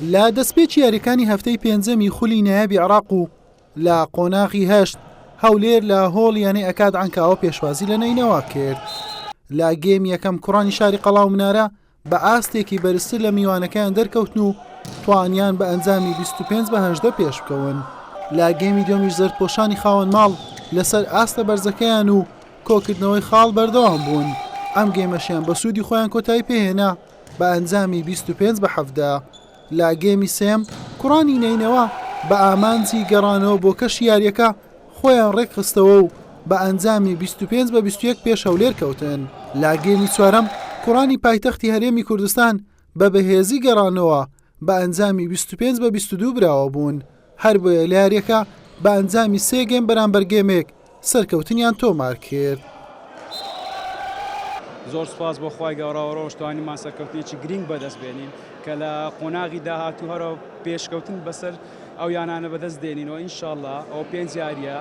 لە دەستپێکی یاریەکانی هەفتەی پێنجەمی خولی نایابی عراق و لە قۆناغی هەشت هەولێر لە هۆڵ یانەی ئەکات ئەنکاوە پێشوازی لە نینەوە کرد لە گێم یەکەم کوڕانی شاری قەڵاو منارە بە ئاستێکی بەرزتر لە میوانەکەیان دەرکەوتن و توانیان بە ئەنجامی 25 بەهدە پێش بکەون لە گێمی دۆمیش زەرپۆشانی خاوەن ماڵ لەسەر ئاستە بەرزەکەیان و کۆکردنەوەی خاڵ بەردەوام بوون، ئەم گەیمەشیان بە سوودی خۆیان کۆتایی پێهێنا بە ئەنجامی بیست و پێنج بە حەڤدە. لە گێمی سێیەم کوڕانی نەینەوا بە ئامانجی گەڕانەوە بۆ کەشی یارییەکە خۆیان ڕێکخستەوە و بە ئەنجامی بیست و پێنج بە بیست و یەک پێش هەولێر کەوتن. لە گێمی چوارەم کوڕانی پایتەختی هەرێمی کوردستان بە بەهێزی گەڕانەوە بە ئەنجامی بیست و پێنج بە بیست و دوو براوە بوون، هەربۆیە لە یارییەکە بە ئەنجامی سێ گێم بەرامبەر گێمێک سەرکەوتنیان تۆمار کرد. زۆر سوپاس بۆ خوای گەوراوە ڕۆژ توانیمان سەرکەوتنێکی گرینگ بەدەست بێنین کە لە قۆناغی داهاتوو هەرە پێشکەوتن بەسەر ئەو یانانە بەدەست دێنین و ئینشاءاللە ئەو پێنج یاریە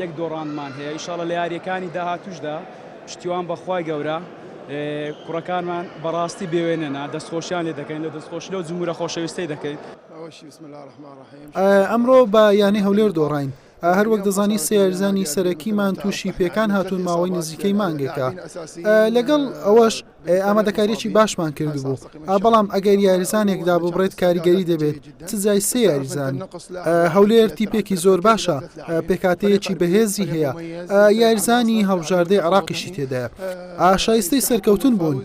یەک دۆڕاندمان هەیە ئینشاءاللە لە یاریەکانی داهاتوشدا پشتیوان بەخوای گەورە کوڕەکانمان بەڕاستی بێوێنەنە دەستخۆشیان لێ دەکەین لە دەستخۆشی لەو جمورە خۆشەویستەی دەکەین. ئەمڕۆ بە یانەی هەولێر دۆڕاین، هەروەک دەزانی سێ یاریزانی سەرەکیمان تووشی پێکان هاتوون ماوەی نزیکەی مانگێکە، لەگەڵ ئەوەش ئامادەکاریەکی باشمان کردبوو بەڵام ئەگەر یاریزانێک داببڕێت کاریگەری دەبێت چ جای سێ یاریزان هەولێر تیپێکی زۆر باشە پێکاتەیەکی بەهێزی هەیە یاریزانی هەڵبژاردەی عراقیشی تێدایە ئاشایستەی سەرکەوتن بوون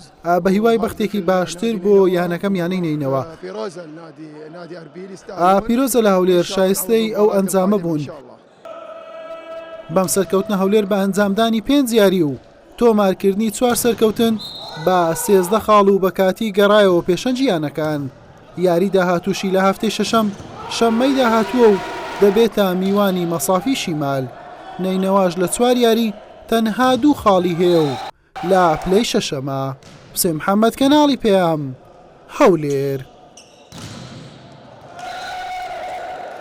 بە هیوای بەختێکی باشتر بۆ یانەکەم یانەی نینەوە پیرۆزە لە هەولێر شایستەی ئەو ئەنجامە بوون. بەم سەرکەوتنە هەولێر بە ئەنجامدانی پێنج یاری و تۆمارکردنی چوار سەرکەوتن بە سێزدە خاڵ و بەکاتی گەڕایەوە پێشەنگی یانەکان یاری داهاتووشی لە هەفتەی شەشەم شەممەی داهاتووە و دەبێتە میوانی مەسافی شیمال نەینەواش لە چوار یاری تەنها دوو خاڵی هەیە و لە پلەی شەشەمە. حوسێن محەممەد، کەناڵی پەیام، هەولێر.